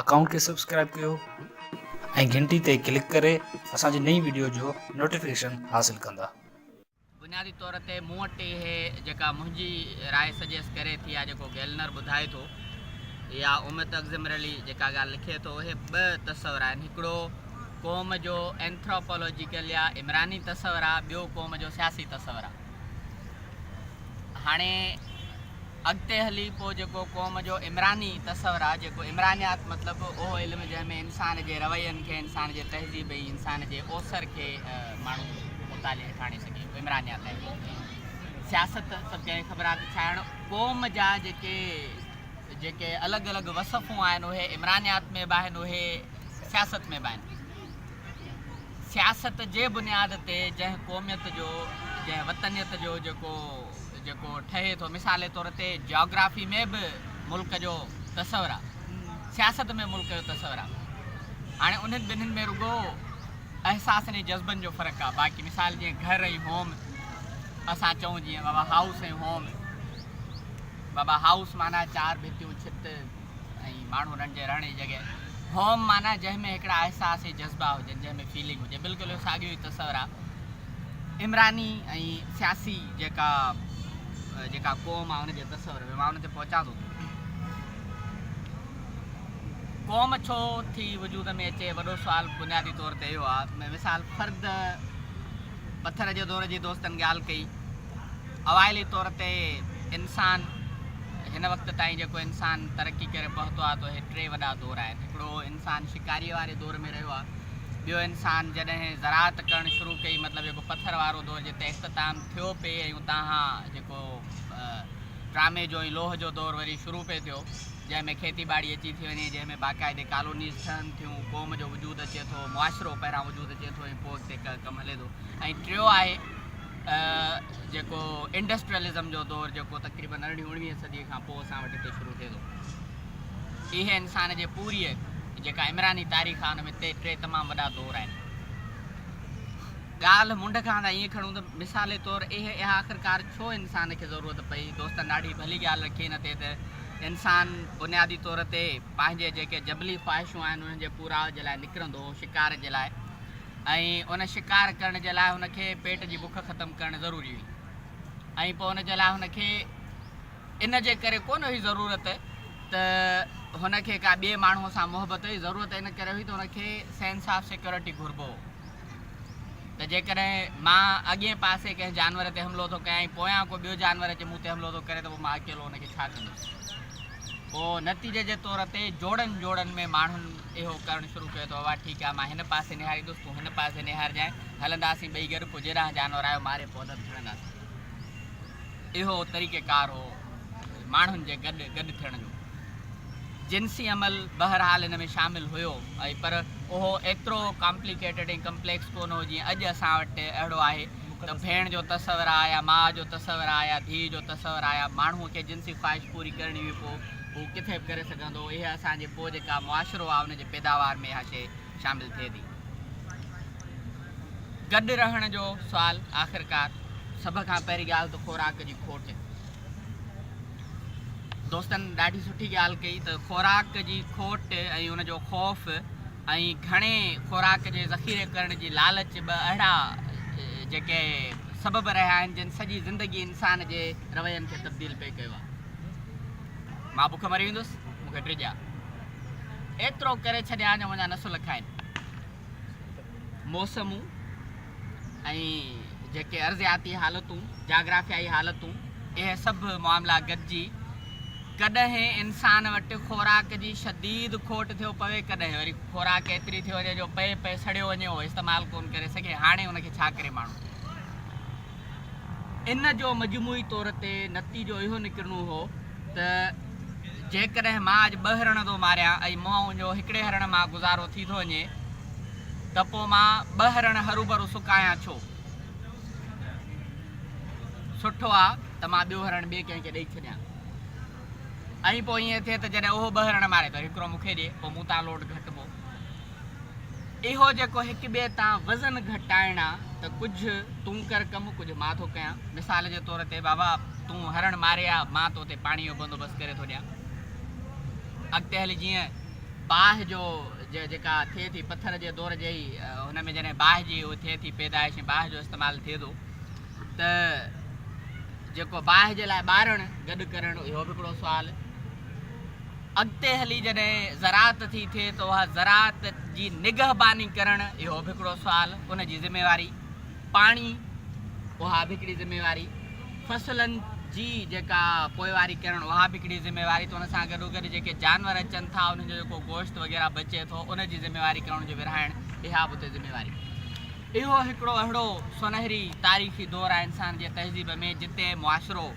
Account کي subscribe ڪيو ۽ گهنٽي تي ڪلڪ ڪري اسان جي نئين وڊيو جو نوٽيفڪيشن حاصل ڪندا. بنيادي طور تي مون وٽ اهي جيڪا منهنجي راء سجيس ڪري ٿي يا جيڪو گيلنر ٻڌائي ٿو يا اميت اگزمرلي جيڪا ڳالهه لکي ٿو اهي ٻه تصور آهن هڪڙو قوم جو اينٿراپالاجيڪل يا عمراني تصور آهي ٻيو قوم جو سياسي تصور آهي. هاڻي اڳتي هلي پوء جيڪو قوم جو عمراني تصور آهي، جيڪو عمرانيات مطلب اهو علم جنهن ۾ انسان جي روين کي، انسان جي تهذيب ۽ انسان جي اوسر کي ماڻهو مطالعي هيٺ آڻي سگهي، اهو عمرانيات آهي. سياست سڀ کي خبر آهي ته ڇا هن قوم جا جيڪي جيڪي الڳ الڳ وصفون آهن اهي عمرانيات ۾ به آهن اهي سياست ۾ به آهن. سياست جي بنياد تي جنهن قوميت جو جنهن وطنيت جو جيڪو جيڪو ٺهي ٿو مثالي طور تي جاگرافي ۾ به ملڪ جو تصور آ سياست ۾ ملڪ جو تصور آ هاڻي انهن ٻنهن ۾ رڳو احساسن ۽ جذبن جو فرق آ باقي مثال جيئن گهر ۽ هوم اسان چئون جيئن بابا هائوس ۽ هوم بابا هائوس معنيٰ چار ڀتيون ڇت ۽ ماڻهو انهن جي رهڻ جي جڳهه Home معنيٰ جنهن ۾ هڪڙا احساس ۽ جذبا هجن، جنهن ۾ فيلنگ هجي، بلڪل اهو ساڳيو ئي تصور آهي عمراني ۽ سياسي جيڪا جيڪا قوم آهي ان جي تصور ۾ مان ان تي پهچان ٿو ته قوم ڇو ٿي وجود ۾ اچي وڏو سوال بنيادي طور تي اهو آهي مثال فرد پٿر جي دور جي دوستن ڳالهه ڪئي اوائلي طور تي انسان هن وقت تائين جيڪو انسان ترقي ڪري پهتو آهي ته اهي ٽي وڏا دور آهن هڪڙو انسان شڪاري واري دور ۾ رهيو آهي ٻيو انسان جڏهن زراعت ڪرڻ شروع ڪئي مطلب جيڪو پٿر وارو دور جتي اختتام ٿيو پئي ۽ اتان کان جيڪو ٽرامي جو ۽ لوهه جو دور وري شروع پئي ٿيو جنهن ۾ کيتي ٻاڙي اچي ٿي وڃي جنهن ۾ باقاعدي ڪالونيز ٺهن ٿيون قوم جو وجود اچي ٿو معاشرو پهران وجود اچي ٿو ۽ پوء اڳتي ڪم هلي ٿو ۽ ٽيو آهي جيڪو انڊسٽريلزم جو دور جيڪو تقريبن ارڙهين اوڻويهين صدي کان پوء اسان وٽ هتي شروع ٿئي ٿو اهي انسان جي پوريء جيڪا عمراني تاريخ آهي ان ۾ ٽي ٽي تمام وڏا دور آهن ڳالهه منڍ کان تان ائين کڻون ته مثالي طور اهي اها آخرڪار ڇو انسان کي ضرورت پئي دوستن ڏاڍي ڀلي ڳالهه رکي ان تي ته انسان بنيادي طور تي پنهنجي جيڪي جبلي خواهشون آهن انهن جي پورائو جي لاء نڪرندو هو شڪار جي لاء ۽ ان شڪار ڪرڻ جي لاء هن کي پيٽ جي بک ختم ڪرڻ ضروري هئي ۽ پوء ان جي لاء هن کي ان جي ڪري ڪونه هئي ضرورت ته هن کي ڪا ٻئي ماڻهوء سان محبت هئي ضرورت ان ڪري هئي ته هن کي سينس آف سيڪيورٽي گهربو هو ته جيڪڏهن مان اڳئين پاسي ڪنهن جانور تي حملو ٿو ڪيان ۽ پويان ڪو ٻيو جانور اچي مون تي حملو ٿو ڪري ته پوء مان اڪيلو ان کي ڇا ڪندس پوء نتيجي جي طور تي جوڙن جوڙن ۾ ماڻهن اهو ڪرڻ شروع ڪيو ته اوا ٺيڪ آ مان هن پاسي نهاريندس تون هن پاسي نهارجانء هلنداسين ٻئي گڏ پوء جيڏانهن جانور آيو ماري پوڌن ٿيڻنداسين اهو طريقه ڪار هو ماڻهن جي گڏ گڏ ٿيڻ جو جنسي عمل بهرحال ان ۾ شامل هيو ۽ پر اهو ايترو ڪامپليڪيٽيڊ ۽ ڪمپليڪس ڪونه هو جيئن اڄ اسان وٽ اهڙو آهي ته ڀيڻ جو تصور آ يا ماء جو تصور آ يا ڌيء جو تصور آ يا ماڻهو کي جنسي خواهش پوري ڪرڻي هئي پوء هو ڪٿي به ڪري سگهندو هو اها اسان جي پوء جيڪا معاشرو آهي ان جي پيداوار ۾ اها شيء شامل ٿئي ٿي. گڏ رهڻ جو سوال آخرڪار سڀ کان پهرين ڳالهه ته خوراڪ جي کوٽ. دوستن ڏاڍي سٺي ڳالهه ڪئي ته خوراڪ جي کوٽ ۽ ان جو خوف ۽ گهڻي خوراڪ جي ذخيري ڪرڻ جي لالچ ٻه اهڙا جيڪي سبب رهيا آهن جن سڄي زندگي انسان جي روين کي تبديل پئي ڪيو آهي. مان بک مري ويندس، مون کي ٽي ڏيا. ايترو ڪري ڇڏيان جو منهنجا نسل کائين. موسمون ۽ جيڪي ارضياتي حالتون، جاگرافيائي حالتون، اهي سڀ معاملا گڏجي ڪڏهن انسان وٽ خوراڪ جي شديد کوٽ ٿيو پوي، ڪڏهن وري خوراڪ ايتري ٿي وڃي جو پئي پئي سڙيو وڃي اهو استعمال ڪونه ڪري سگهي. هاڻي ان کي ڇا ڪري ماڻهو؟ ان جو مجموعي طور تي نتيجو اهو نڪرڻو هو ته جيڪڏهن مان اڄ ٻه هرڻ ٿو ماريان ۽ مون جو هڪڙي هرڻ مان گذارو ٿي ٿو وڃي ته پوء مان ٻه هرڻ هروڀرو سڪايان ڇو؟ سٺو آ ته مان ٻيو هرڻ ٻئي ڪنهن کي ڏئي ڇڏيان ۽ پوء ائين ٿئي ته جڏهن اهو ٻه هرڻ ماري ته هڪڙو مون کي ڏي، پوء مون تان لوڊ گهٽبو. اهو جيڪو هڪ ٻئي تان وزن گهٽائڻ آ ته ڪجهه تون ڪر ڪم ڪجهه مان ٿو ڪيان مثال جي طور تي بابا تون هرڻ ماري آ مان تو تي پاڻي جو بندوبست ڪري ٿو ڏيان اڳتي هلي جيئن باهه جو جيڪا ٿئي ٿي پٿر جي دور جي هن ۾ جڏهن باهه جي اهو ٿئي ٿي پيدائش ۽ باهه جو استعمال ٿئي ٿو ته جيڪو باهه جي لاء ٻارڻ گڏ ڪرڻ اهو به هڪڙو سوال اڳتي هلي جڏهن زراعت ٿي ٿئي ته اها زراعت جي نگهباني ڪرڻ اهو به هڪڙو سوال، ان جي ذميواري، پاڻي اها به هڪڙي ذميواري، فصلن جي جيڪا پوئواري ڪرڻ اها به هڪڙي ذميواري ته ان سان گڏوگڏ جيڪي جانور اچن ٿا انهن جو جيڪو گوشت وغيره بچي ٿو ان جي ذميواري ڪرڻ جو ورهائڻ اها به اتي ذميواري. اهو هڪڙو اهڙو سونهري تاريخي دور آهي انسان جي تهذيب ۾ جتي معاشرو.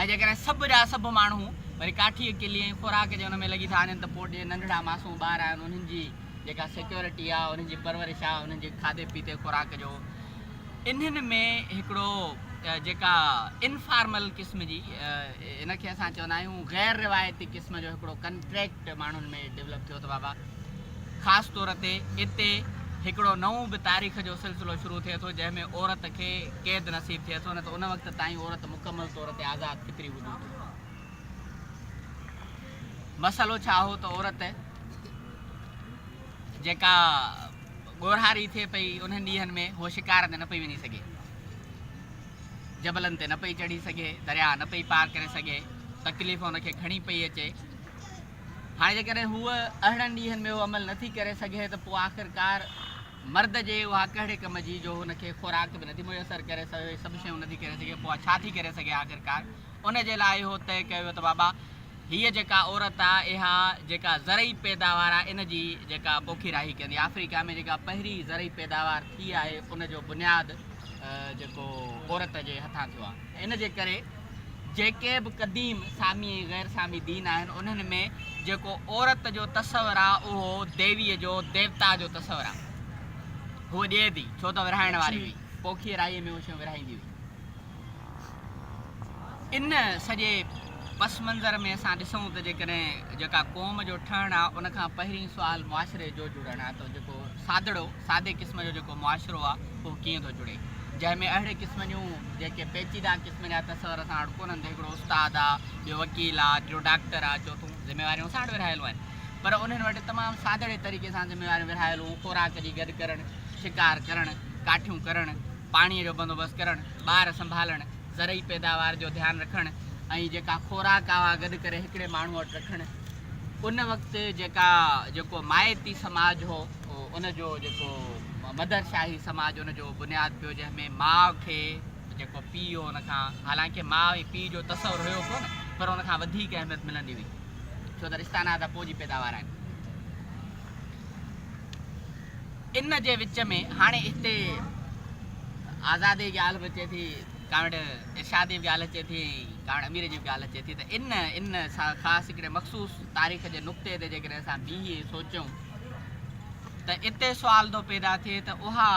۽ جيڪڏهن سڀ جا سڀ ماڻهو وري ڪاٺيء ڪلي ۽ خوراڪ جي ان ۾ لڳي ٿا وڃن ته پوء جي ننڍڙا معصوم ٻار آهن انهن جي جيڪا سيڪيورٽي آهي انهن جي پرورش آهي انهن جي کاڌي پيتي خوراڪ جو انهن ۾ هڪڙو جيڪا انفارمل قسم جي ان کي اسان چوندا آهيون غير روايتي قسم جو هڪڙو ڪنٽريڪٽ ماڻهن ۾ ڊولپ ٿيو ته بابا خاص طور تي اتي هڪڙو نئون به تاريخ جو سلسلو شروع ٿئي ٿو جنهن ۾ عورت کي قيد نصيب ٿئي ٿو نه ته ان وقت تائين عورت مڪمل طور تي آزاد فطري وجود هئي. مسئلو ڇا هو ته عورت جيڪا ڳورهاري ٿئي پئي انهن ڏينهن ۾ هوء شڪار تي نه پئي وڃي سگهي، جبلن تي نه پئي چڙهي سگهي، درياهه نه پئي پار ڪري سگهي، تڪليف ان کي گهڻي پئي اچي. هاڻي جيڪڏهن هوء اهڙن ڏينهن ۾ اهو عمل نٿي ڪري سگهي ته پوء آخرڪار مرد جي اها ڪهڙي ڪم جي جو هن کي خوراڪ به نٿي ميسر ڪري سگهي اهي سڀ شيون نٿي ڪري سگهي پوء ڇا ٿي ڪري سگهي آخرڪار ان جي لاء اهو طئي ڪيو ويو ته بابا هيء جيڪا عورت آهي اها جيڪا زرعي پيداوار آهي ان جي جيڪا پوکيراهي ڪندي آفريڪا ۾ جيڪا پهرين زرعي پيداوار ٿي آهي ان جو بنياد جيڪو عورت جي هٿان ٿيو آهي ان جي ڪري جيڪي به قديم سامي ۽ غير سامي دين آهن انهن ۾ جيڪو عورت جو تصور آ اهو ديويء جو، ديوتا جو، تصور آ. هوء ڏئي ٿي ڇو ته ورهائڻ واري هئي. پوکيء رائيء ۾ اهي شيون ورهائيندي هئي. ان سڄي پس منظر ۾ اسان ڏسون ته جيڪڏهن جيڪا قوم جو ٺهڻ آ ان کان پهرين سوال معاشري جو جڙڻ آ ته جيڪو سادڙو، سادي قسم جو جيڪو معاشرو آ اهو ڪيئن ٿو جڙي جنهن ۾ اهڙي قسم جون جيڪي پيچيدا. منهنجا ته سر اسان وٽ ڪونهن، هڪڙو استاد آ، ٻيو وڪيل آ، ٽيون ڊاڪٽر آ، چوٿون ذميواريون اسان وٽ ورهايل آهن. پر انهن وٽ تمام سادڙي طريقي سان ذميواريون ورهايل هون، خوراڪ جي گڏ ڪرڻ، شڪار ڪرڻ، ڪاٺيون ڪرڻ، پاڻيء جو بندوبست ڪرڻ، ٻار سنڀالڻ، زرعي پيداوار جو ڌيان رکڻ ۽ جيڪا خوراڪ آ اها گڏ ڪري هڪڙي ماڻهو وٽ رکڻ. ان وقت جيڪا جيڪو مائتي سماج هو ان جو جيڪو مدر شاهي سماج ان جو بنياد پيو جنهن ۾ ماء کي. جيڪو پيء هو ان کان حالانڪه ماء ۽ پيء جو تصور هيو ڪونه پر ان کان وڌيڪ اهميت ملندي هئي ڇو ته رشتا ناتا پوء جي پيداوار آهن ان جي وچ ۾ هاڻي هتي آزادي جي ڳالهه به اچي ٿي ڪاوڙ ارشاد جي ڳالهه اچي ٿي ڪاوڙ امير جي ڳالهه اچي ٿي ته ان ان خاص هڪڙي مخصوص تاريخ جي نقطي تي جيڪڏهن اسان بيهي سوچيون ته اتي سوال ٿو پيدا ٿئي ته اها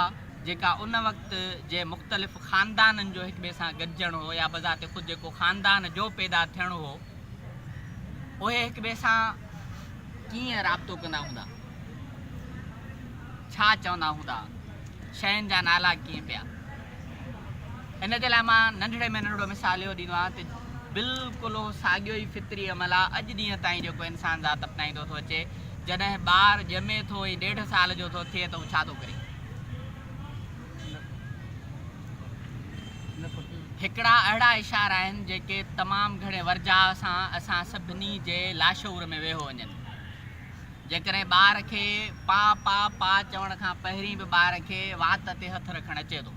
جيڪا ان وقت جي مختلف خاندانن جو هڪ ٻئي سان گڏجڻ هو يا بذات خود جيڪو خاندان جو پيدا ٿيڻ هو اهي هڪ ٻئي سان ڪيئن رابطو ڪندا هوندا ڇا چوندا هوندا شين جا نالا ڪيئن پيا ان جي لاء مان ننڍڙي ۾ ننڍڙو مثال اهو ڏيندو آهيان ته بلڪل اهو ساڳيو ئي فطري عمل آهي اڄ ڏينهن تائين جيڪو انسان ذات اپنائيندو ٿو اچي جڏهن ٻار ڄمي ٿو ۽ ڏيڍ سال جو ٿو ٿئي ته هو ڇا ٿو ڪري هڪڙا اهڙا اشارا آهن جيڪي تمام گهڻي ورجاء سان اسان سڀني جي لاشعور ۾ ويهو وڃن. جيڪڏهن ٻار کي پا پا پا چوڻ کان پهرين به ٻار کي وات تي هٿ رکڻ اچي ٿو.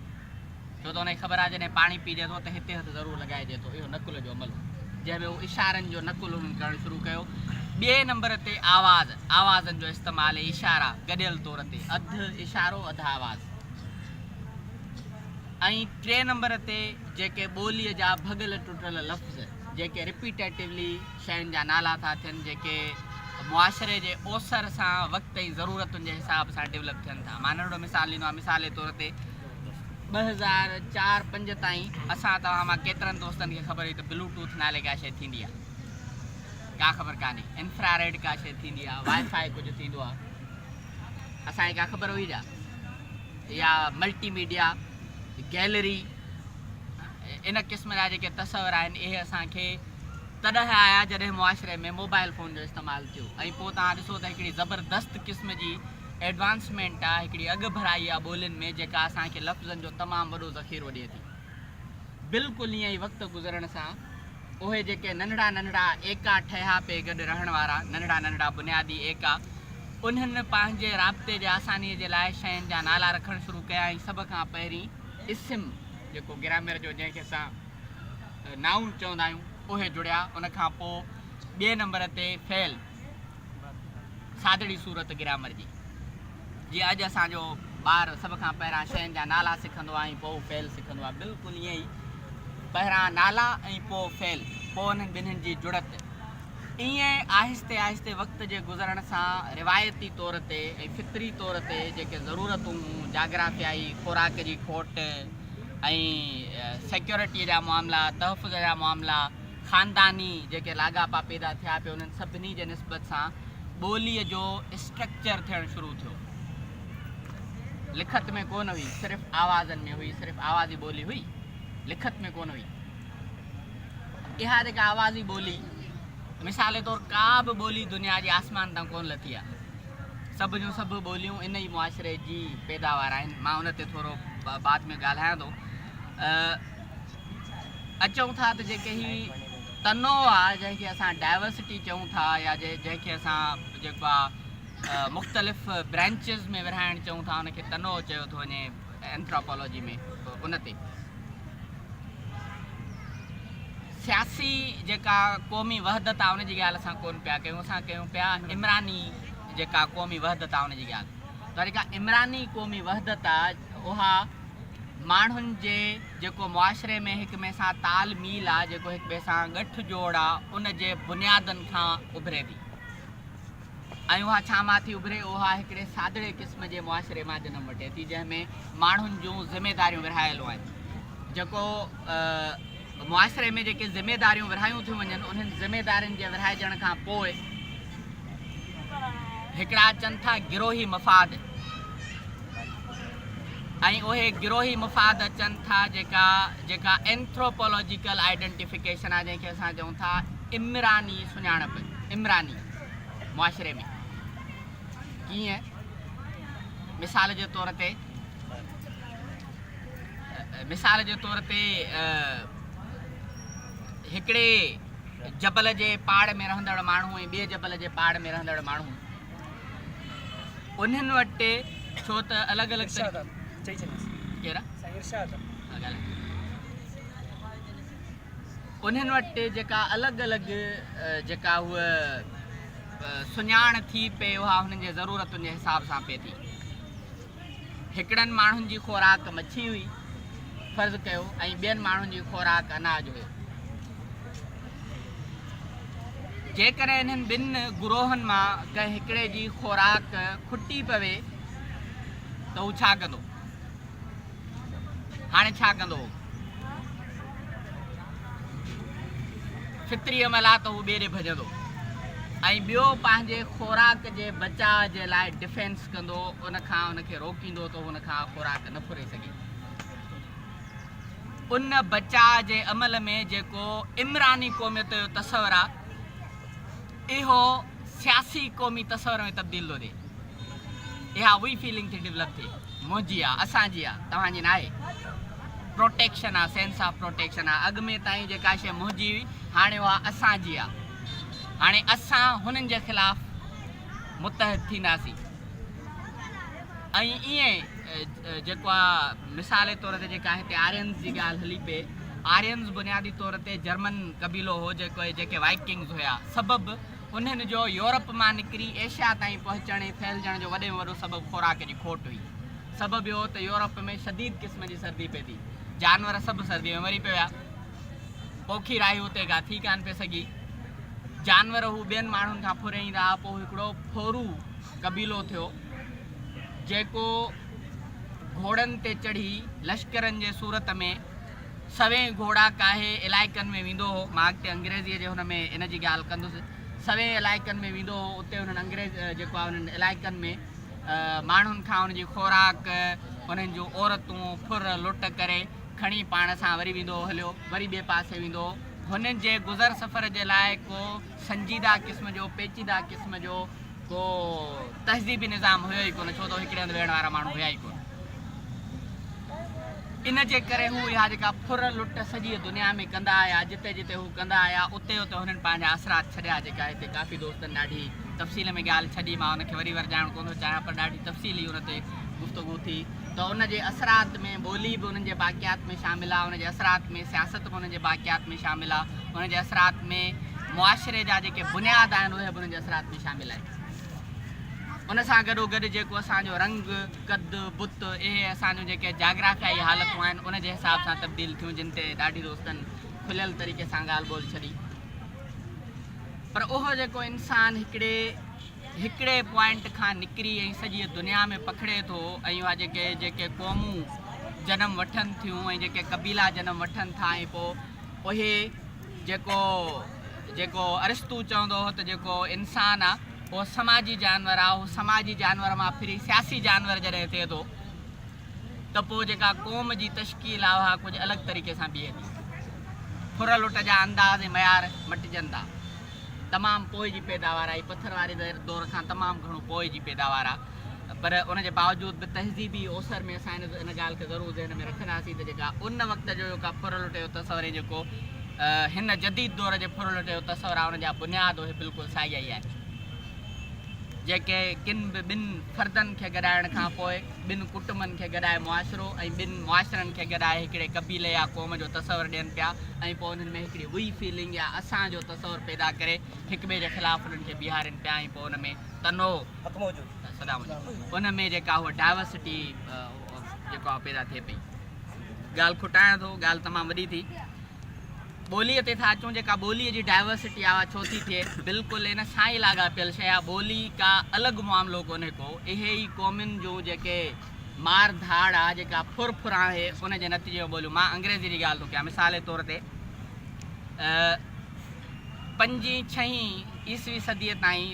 ڇو ته ان کي خبر آهي جڏهن پاڻي پيئجي ٿو ته هتي هٿ ضرور لڳائجي ٿو. اهو نقل جو عمل هو. جنهن ۾ هو اشارن جو نقل انهن ڪرڻ شروع ڪيو. ٻئي نمبر تي آواز، آوازن جو استعمال ۽ اشارا گڏيل طور تي، اڌ اشارو اڌ آواز. ۽ ٽئين نمبر تي جيڪي ٻوليء جا ڀڳل ٽٽل لفظ، جيڪي رپيٽيٽويلي شين جا نالا ٿا ٿين، جيڪي معاشري جي اوسر سان وقت ۽ ضرورتن جي حساب سان ڊولپ ٿين ٿا. مان ننڍڙو مثال ڏيندو آهيان. مثال جي طور تي. ٻه هزار چار پنج تائين اسان توهان مان ڪيترن دوستن کي خبر هئي ته بلو ٽوٿ نالي ڪا شيء ٿيندي آهي ڪا خبر ڪانهي انفرا ريڊ ڪا شيء ٿيندي آهي وائي فائي ڪجهه ٿيندو آهي اسان کي ڪا خبر هئي جا يا ملٽي ميڊيا گيلري ان قسم جا جيڪي تصور آهن اهي اسانکي تڏهن آيا جڏهن معاشري ۾ موبائل فون جو استعمال ٿيو ۽ پوء تان ڏسو ته هڪڙي زبردست قسم جي Advancement، آ، هڪڙي اڳڀرائي آ ٻولين ۾ جيڪا اسان کي لفظن جو تمام وڏو ذخيرو ڏئي ٿي. بلڪل ايئن ئي وقت گذرڻ سان اهي جيڪي ننڍڙا ننڍڙا ايڪا ٺهيا پئي گڏ رهڻ وارا ننڍڙا ننڍڙا بنيادي ايڪا انهن پنهنجي رابطي جي آساني جي لاء شين جا نالا رکڻ شروع ڪيا ۽ سڀ کان پهرين اسم جيڪو گرامر جو جنهن کي اسان Noun چوندا آهيون اهي جڙيا ان کان پوء ٻئي نمبر تي فعل. سادڙي صورت گرامر جي جي اڄ اسان جو ٻار سڀ کان پهران شين جا نالا سکندو آهي ۽ پوء فعل سکندو آهي بلڪل ائين ئي پهران نالا ۽ پوء فعل پوء انهن ٻنهين جي جڙت ائين آهستي آهستي وقت جي گذرڻ سان روايتي طور تي ۽ فطري طور تي جيڪي ضرورتون جاگرافيائي خوراڪ جي کوٽ ۽ سيڪيورٽي جا معاملا تحفظ جا معاملا خانداني جيڪي لاڳاپا پيدا ٿيا پي انهن سڀني جي نسبت سان ٻوليء جو اسٽرڪچر ٿيڻ شروع ٿيو. لکت ۾ ڪونه هئي، صرف آوازن ۾ هئي، صرف آوازي ٻولي هئي، لکت ۾ ڪونه هئي. اها جيڪا آوازي ٻولي مثال طور ڪا به ٻولي دنيا جي آسمان تان ڪونه لٿي آهي. سڀ جون سڀ ٻوليون ان ئي معاشري جي پيداوار آهن. مان ان تي ٿورو بعد ۾ ڳالهايان ٿو. اچون ٿا ته جيڪي هي تنوع آ جنهن کي اسان ڊائورسٽي چئون ٿا يا جنهن کي اسان جيڪو آ مختلف برانچز ۾ ورهائڻ چئون ٿا ان کي تنوع چيو ٿو وڃي اينٿراپولوجي ۾ ان تي سياسي جيڪا قومي وحدت آ ان جي ڳالهه اسان ڪون پيا ڪيون اسان ڪيون پيا عمراني جيڪا قومي وحدت آ ان جي ڳالهه پر جيڪا عمراني قومي وحدت آ اها ماڻهن جي جيڪو معاشري ۾ هڪ ٻئي سان تال ميل آ جيڪو هڪ ٻئي سان ڳٺ جوڙ آ ان جي بنيادن کان اڀري ٿي ۽ اها ڇا مان ٿي اڀري اها هڪڙي سادڙي قسم جي معاشري مان جنم وٺي ٿي جنهن ۾ ماڻهن جون ذميداريون ورهايل هئن جيڪو معاشري ۾ جيڪي ذميداريون ورهايون ٿيون وڃن انهن ذميدارين جي ورهائجڻ کان پوء هڪڙا اچن ٿا گروهي مفاد ۽ اهي گروهي مفاد اچن ٿا جيڪا جيڪا اينٿروپولوجيڪل آئيڊنٽيفڪيشن آهي جنهن کي اسان چئون ٿا عمراني سڃاڻپ عمراني معاشري ۾ ڪيئن مثال جي طور تي مثال جي طور تي هڪڙي جبل جي پاڙ ۾ رهندڙ ماڻهو ۽ ٻئي جبل جي پاڙ ۾ رهندڙ ماڻهو انهن وٽ ڇو ته الڳ الڳ انهن وٽ جيڪا الڳ الڳ جيڪا هو سڃاڻ ٿي پئي اها هنن جي ضرورتن جي حساب سان پئي ٿي هڪڙن ماڻهن جي خوراڪ مڇي هئي، فرض ڪيو، ۽ ٻين ماڻهن جي خوراڪ اناج هيو. جيڪڏهن انهن ٻن گروهن مان ڪنهن هڪڙي جي خوراڪ کٽي پوي ته هو ڇا ڪندو؟ هاڻي ڇا ڪندو؟ فطري عمل آ ته هو ٻيري ڀڄندو ۽ ٻيو پنهنجي خوراڪ جي بچاء جي لاء ڊفينس ڪندو، ان کان ان کي روڪيندو ته هو ان کان خوراڪ نه ڦري سگهي. ان بچاء جي عمل ۾ جيڪو عمراني قوميت جو تصور آ، اهو سياسي قومي تصور ۾ تبديل ٿو ٿئي. اها وي فيلنگ ٿي ڊولپ ٿئي. منهنجي آ، اسان جي آ، توهان جي ناهي. پروٽيڪشن آ، سينس آف پروٽيڪشن آ. اڳ ۾ تائين جيڪا شيء منهنجي هئي، هاڻي اها اسان جي آ. هاڻي اسان هنن جي خلاف متحد ٿينداسين. ۽ ائين جيڪو آ مثالي طور تي جيڪا هتي آرينز جي ڳالهه هلي پئي آرينز بنيادي طور تي جرمن قبيلو هو جيڪو جيڪي وائڪنگز هيا سبب انهن جو يورپ مان نڪري ايشيا تائين پهچڻ ۽ ڦهلجڻ جو وڏي ۾ وڏو سبب خوراڪ جي کوٽ هئي سبب اهو ته يورپ ۾ شديد قسم جي سردي پئي ٿي جانور سڀ سردي ۾ مري پئي ويا پوکي راهي اتي ڪا ٿي ڪانه پئي سگهي. جانور هو ٻين ماڻهن کان ڦرهين رها پوء هڪڙو ڦورو قبيلو ٿيو، جيڪو گهوڙن تي چڙهي لشڪرن جي صورت ۾ سوين گهوڙا ڪاهي علائقن ۾ ويندو هو. مان اڳتي انگريزيء جي هن ۾ ان جي ڳالهه ڪندس. سوين علائقن ۾ ويندو هو، اتي انهن انگريز جيڪو آهي انهن علائقن ۾ ماڻهن کان ان جي خوراڪ، انهن جون عورتون ڦر لٽ ڪري کڻي پاڻ سان وري ويندو هليو وري ٻئي پاسي ويندو هو. هن جي گذر سفر جي لاء ڪو سنجيده قسم جو پيچيده قسم جو ڪو تهذيبي نظام هيو ئي ڪونه ڇو ته هڪڙي هنڌ ويهڻ وارا ماڻهو هيا ئي ڪونه. ان جي ڪري هو اها جيڪا ڦر لٽ سڄيء دنيا ۾ ڪندا آيا جتي جتي هو ڪندا آيا اتي اتي هنن پنهنجا اثرات ڇڏيا جيڪا هتي ڪافي دوستن ڏاڍي تفصيل ۾ ڳالهه ڇڏي مان ان کي وري ورجائڻ ڪونه ٿو چاهيان پر ڏاڍي تفصيلي ان تي گفتگو ٿي. ته ان جي اثرات ۾ ٻولي به انهن جي باقيات ۾ شامل آ، ان جي اثرات ۾ سياست به انهن جي باقيات ۾ شامل آ، ان جي اثرات ۾ معاشري جا جيڪي بنياد آهن اهي به انهن جي اثرات ۾ شامل آهن. ان سان گڏو گڏ جيڪو اسان جو رنگ، قد، بت اهي اسان جون جيڪي جاگرافيائي حالتون آهن ان جي حساب سان تبديل ٿيون جن تي ڏاڍي دوستن کليل طريقي سان ڳالهه ٻولهه ڇڏي پر اهو جيڪو انسان هڪڙي هڪڙي پوائنٽ کان نڪري ۽ سڄيء دنيا ۾ پکڙي ٿو ۽ اها جيڪي جيڪي قومون جنم وٺن ٿيون ۽ جيڪي قبيلا جنم وٺن ٿا ۽ پوء اهي جيڪو جيڪو ارسطو چوندو هو ته جيڪو انسان آ اهو سماجي جانور آ اهو سماجي جانور مان ڦري سياسي جانور جڏهن ٿئي ٿو ته پوء جيڪا قوم جي تشڪيل آ اها ڪجهه الڳ طريقي سان بيهي ٿي ڦر لٽ جا انداز ۽ معيار مٽجن ٿا. تمام پوء جي پيداوار آهي، پٿر واري دور کان تمام گهڻو پوء جي پيداوار آ پر ان جي باوجود به تهذيبي اوسر ۾ اسان ان ڳالهه کي ضرور ذهن ۾ رکنداسين ته جيڪا ان وقت جو جيڪا ڦرلٽ جو تصور ۽ جيڪو هن جديد دور جي ڦرلٽ جو تصور آ ان جا بنياد اهي بلڪل ساڳيا ئي آهن جيڪي ڪن به ٻن فردن کي گڏائڻ کان پوء ٻن ڪٽنبن کي گڏائي معاشرو ۽ ٻن معاشرن کي گڏائي هڪڙي قبيلي يا قوم جو تصور ڏين پيا ۽ پوء انهن ۾ هڪڙي وي فيلنگ يا اسان جو تصور پيدا ڪري هڪ ٻئي جي خلاف انهن کي بيهارين پيا ۽ پوء ان ۾ تنوع ان ۾ جيڪا هوء ڊائورسٽي جيڪا پيدا ٿئي پئي. ڳالهه کٽايان ٿو ڳالهه تمام وڏي ٿي. ٻوليء تي ٿا اچون جيڪا ٻوليء جي ڊائيورسٽي آ اها ڇو ٿي ٿئي؟ بلڪل ان سان ئي لاڳاپيل شيء آ، ٻولي ڪا الڳ معاملو ڪونهي ڪو، اهي ئي قومين جون جيڪي مار ڌاڙ آ، جيڪا ڦر ڦر آهي ان جي نتيجي ۾ ٻوليون، مان انگريزي جي ڳالهه ٿو ڪيان مثال جي طور تي پنجين ڇهين عيسوي صديء تائين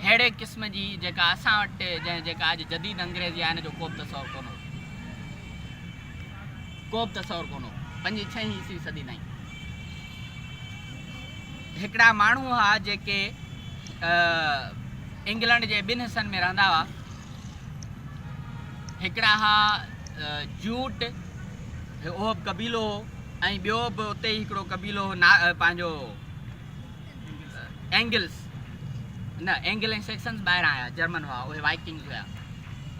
ههڙي قسم جي جيڪا اسان وٽ جيڪا اڄ جديد انگريزي آ ان جو ڪوبه تصور ڪونه هو. ڪوبه تصور ڪونه هو. پنجين ڇهين عيسوي صدي تائين هڪڙا ماڻهو هئا جيڪي انگلنڊ جي ٻن حصن ۾ رهندا هئا. هڪڙا هئا جوٽ اهو به قبيلو هو ۽ ٻيو به اتي ئي هڪڙو قبيلو هو پنهنجو اينگلس، نه، اينگل ۽ سيڪسنز ٻاهران آيا، جرمن هئا، اهي وائيڪنگز هيا.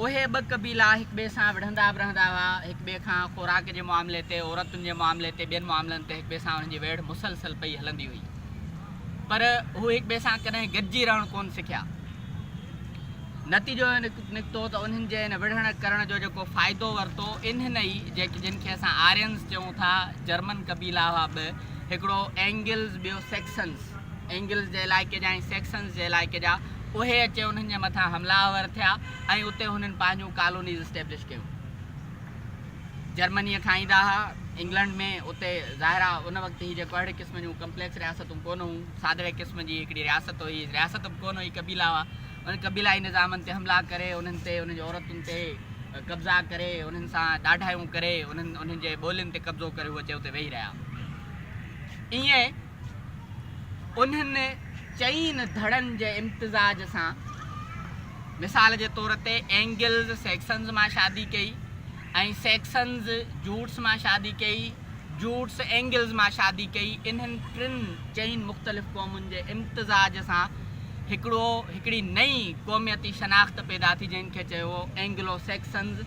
اهي ٻه قبيلا هڪ ٻئي سان وڙهندا به رهندا هئا، هڪ ٻئي کان خوراڪ جي معاملي تي، عورتن جي معاملي تي، ٻين معاملن تي هڪ ٻئي سان انهن جي ويڙهه مسلسل پئي هلندي هئي. پر هو هڪ ٻئي سان ڪڏهن گڏجي رهڻ ڪونه سکيا. نتيجو اهو نڪتو ته انهن جي ان وڙهڻ ڪرڻ جو جيڪو فائدو ورتو، انهن ئي، جن کي اسان آرينز چئون ٿا، جرمن قبيلا هئا ٻه، هڪڙو اينگلز ٻيو سيڪسنز، اينگلز جي علائقي جا ۽ سيڪسنز جي علائقي جا، اهي اچي انهن جي مٿان حملا آور ٿيا ۽ اتي هنن پنهنجون ڪالونيز اسٽيبلش ڪيون. جرمنيء کان ايندا ها انگلنڊ ۾ اتي ظاهر آ ان وقت هي جيڪو اهڙي قسم جون ڪمپليڪس رياستون ڪونه هيون، سادڙي قسم جي هڪڙي رياست هئي، رياست به ڪونه هئي قبيلا هئا. انهن قبيلائي نظامن تي حملا ڪري، انهن تي انهن جي عورتن تي قبضا ڪري، انهن سان ڏاڍايون ڪري، انهن انهن جي ٻولين تي قبضو ڪري هو اچي اتي ويهي رهيا. ائين انهن چئين ڌڙن جي امتزاج سان مثال جي طور تي اينگلز سيڪسنز مان شادي ڪئي، ۽ سيڪسنز جوٽس مان شادي ڪئي، جوٽس اينگلز مان شادي ڪئي، انهن ٽن چئن مختلف قومن جي امتزاج سان هڪڙو هڪڙي نئين قوميتي شناخت پيدا ٿي جنهن کي چئبو هو اينگلو سيڪسنز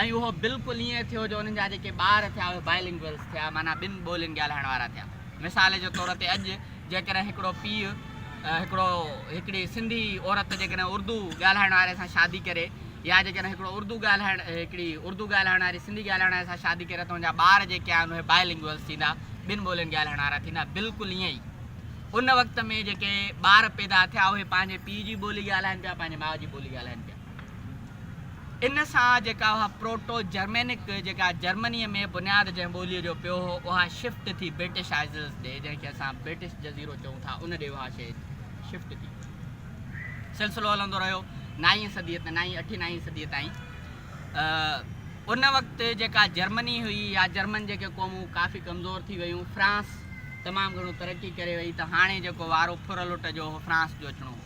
۽ اهو بلڪل ائين ٿيو جو انهن جا جيڪي ٻار ٿيا اهي Bilinguals ٿيا معنيٰ ٻن ٻولين ڳالهائڻ وارا ٿيا مثال جي طور تي اڄ جيڪڏهن هڪڙو پيء هڪڙو هڪڙي سنڌي عورت جيڪڏهن اردو ڳالهائڻ واري سان شادي ڪري يا جيڪڏهن هڪڙو اردو ڳالهائڻ ۽ هڪڙي اردو ڳالهائڻ واري سنڌي ڳالهائڻ واري سان شادي ڪري ته ان جا ٻار جيڪي آهن اهي بائي لنگوئلز ٿيندا، ٻن ٻولين ڳالهائڻ وارا ٿيندا، بلڪل ائين ئي ان وقت ۾ جيڪي ٻار پيدا ٿيا اهي پنهنجي پيء جي ٻولي ڳالهائين پيا، پنهنجي ماء جي ٻولي ڳالهائين پيا. ان سان جيڪا اها پروٽو جرمينڪ جيڪا جرمنيء ۾ بنياد جنهن ٻوليء جو پيو هو اها شفٽ ٿي برٽش آئيزلز ڏي جنهن کي اسان برٽش جزيرو چئون ٿا ان ڏي اها شيء شفٽ ٿي. سلسلو هلندو رهيو نائين صديء تائين نائين اٺين نائين صديء تائين ان وقت جيڪا جرمني هئي يا جرمن جيڪي قومون ڪافي ڪمزور ٿي ويون فرانس تمام گھڻو ترقي ڪري وئي ته هاڻي جيڪو وارو ڦر لٽ جو هو فرانس جو اچڻو هو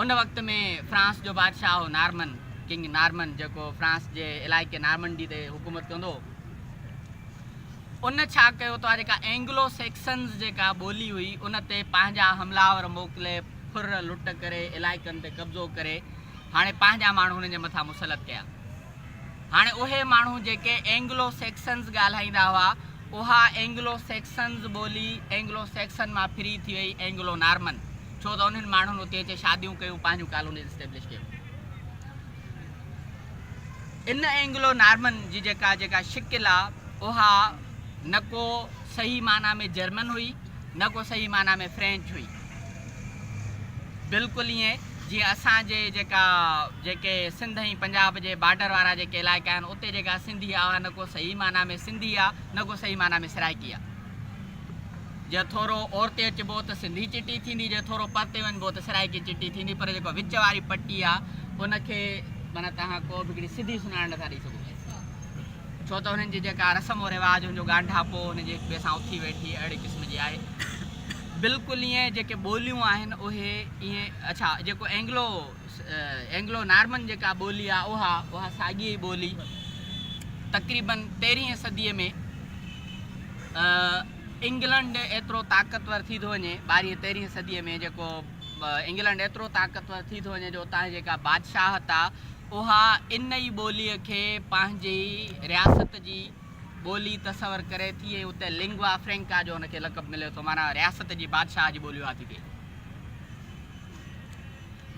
ان وقت ۾ فرانس جو بادشاهه هو نارمن ڪنگ نارمن جيڪو فرانس جي علائقي نارمنڊي تي حڪومت ڪندو ان ڇا ڪيو تو جيڪا اينگلو سيڪسنز جيڪا ٻولي هئي ان تي پنهنجا حملاور موڪلي ڦر لٽ ڪري علائقن تي قبضو ڪري هاڻي پنهنجا ماڻهو هنن جي مٿان مسلط ڪيا هاڻي اهي ماڻهو جيڪي اينگلو سيڪسنز ڳالهائيندا هئا اها اينگلو سيڪسنز ٻولي اينگلو سيڪسن مان ڦري ٿي وئي اينگلو نارمن ڇو ته انهن ماڻهن اتي اچي شاديون ڪيون پنهنجون ڪالونيز اسٽيبلش ڪيون. ان اينگلو نارمن جي جيڪا جيڪا شڪل آ اها نه ڪو صحيح معنيٰ ۾ جرمن هئي نه ڪو صحيح معنيٰ ۾ فرينچ هئي بلڪل ائين جيئن اسان جي جيڪا جيڪي سنڌ ۽ پنجاب جي بارڊر وارا جيڪي علائقا آهن اتي جيڪا سنڌي آ اها نه ڪو صحيح معنيٰ ۾ سنڌي آ نه ڪو صحيح معنيٰ ۾ سرائڪي آ جي ٿورو اورتي اچبو ته سنڌي چٽي ٿيندي جي ٿورو پرتي وڃبو ته سرائيڪي چٽي ٿيندي پر جيڪو وچ واري پٽي آ ان کي معنيٰ تهان ڪو به هڪڙي سڌي سڃاڻ نٿا ڏئي سگهو ڇو ته هنن جي جيڪا رسم و رواج هن جو ڳانڍاپو هن جي هڪ ٻئي سان اٿي ويٺي اهڙي قسم جي آهي بلڪل ائين جيڪي ٻوليون آهن اهي ائين اڇا جيڪو اينگلو اينگلو نارمن جيڪا ٻولي آ اها اها ساڳي ئي ٻولي تقريباً تيرهين صديء ۾ انگلنڊ ايترو طاقتور ٿي ٿو وڃي ٻارهين تيرهين صديء ۾ جيڪو انگلنڊ ايترو طاقتور ٿي ٿو وڃي جو اتان جي جيڪا بادشاهت آ اها ان ئي ٻوليء کي پنهنجي رياست جي ٻولي تصور ڪري ٿي ۽ اتي لنگوا فرينڪا جو ان کي لقب ملي ٿو معنيٰ رياست جي بادشاهه جي ٻولي اها ٿي ٿئي.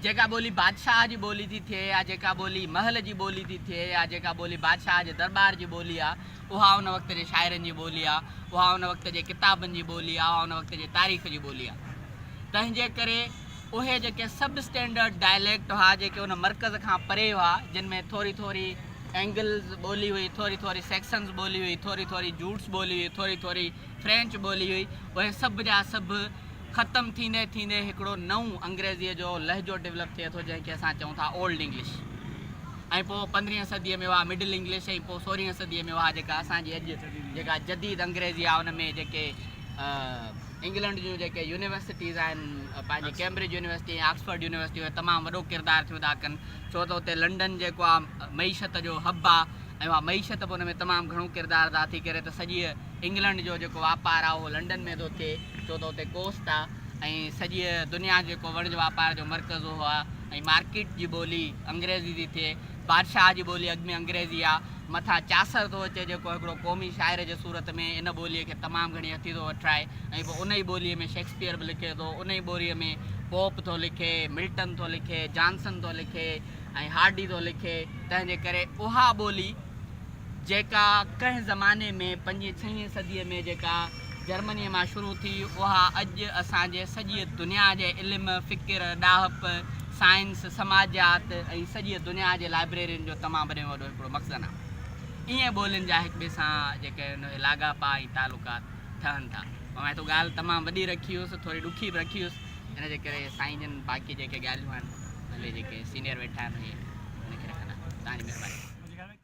جيڪا ٻولي بادشاهه جي ٻولي ٿي ٿئي يا جيڪا ٻولي محل جي ٻولي ٿي ٿئي يا جيڪا ٻولي بادشاهه جي درٻار جي ٻولي آ اها ان وقت جي شاعرن جي ٻولي آ اها ان وقت جي ڪتابن جي ٻولي آ اها ان وقت جي تاريخ جي ٻولي آ تنهنجي ڪري اهي جيڪي سب اسٽينڊرڊ ڊائليڪٽ هئا جيڪي ان مرڪز کان پري هئا جن ۾ ٿوري ٿوري اينگلز ٻولي هئي ٿوري ٿوري سيڪسنز ٻولي هئي ٿوري ٿوري جوٽس ٻولي هئي ٿوري ٿوري فرينچ ٻولي هئي اهي سڀ جا سڀ ختم ٿيندي ٿيندي هڪڙو نئون انگريزيء جو لهجو ڊولپ ٿئي ٿو جنهن کي اسان چئون ٿا اولڊ انگلش ۽ پوء پندرهين صديء ۾ اها مڊل انگلش ۽ پوء سورهين صديء ۾ اها جيڪا اسان جي اڄ جيڪا جديد انگريزي آهي ان ۾ جيڪي انگلنڊ جون جيڪي يونيورسٽيز آهن پنهنجي ڪيمبرج يونيورسٽي ۽ آڪسفورڊ يونيورسٽي اهي تمام وڏو ڪردار ٿيون ادا ڪن ڇو ته اتي لنڊن جيڪو آهي معيشت جو حب آهي ۽ اها معيشت به ان ۾ تمام گهڻو ڪردار ادا ٿي ڪري ته سڄيء انگلنڊ جو جيڪو واپار آ اهو لنڊن ۾ ٿو ٿئي ڇو ته اتي ڪوسٽ آ ۽ سڄيء دنيا جو جيڪو وڻج واپار جو مرڪز اهو آ ۽ مارڪيٽ جي ٻولي انگريزي ٿي ٿئي. بادشاهه جي ٻولي اڳ ۾ انگريزي آ. مٿان چاسر ٿو اچي جيڪو هڪڙو قومي شاعر جي صورت ۾ ان ٻوليء کي تمام گهڻي هٿي ٿو وٺرائي ۽ پوء ان ئي ٻوليء ۾ شيڪسپيئر به لکي ٿو، ان ئي ٻوريء ۾ پوپ ٿو لکي، ملٽن ٿو لکي، جانسن ٿو لکي ۽ هارڊي ٿو لکي، تنهن جي ڪري اها ٻولي. جيڪا ڪنهن زماني ۾ پنجين ڇهين صديء ۾ جيڪا جرمنيء مان شروع ٿي، اها اڄ اسان جي سڄيء دنيا جي علم، فڪر، ڏاهپ، سائنس، سماجيات ۽ سڄيء دنيا جي لائبريرين جو تمام وڏي ۾ وڏو هڪڙو مخزن آهي. ائين ٻولين جا هڪ ٻئي سان جيڪي ان اهي لاڳاپا ۽ تعلقات ٺهن ٿا. پر مان هتو ڳالهه تمام وڏي رکي هيس، ٿوري ڏکي به رکي هيس، ان جي ڪري سائين جن باقي جيڪي ڳالهيون آهن، اهي جيڪي سينئر ويٺا آهن، اهي ان کي رکندا. توهان جي مهرباني.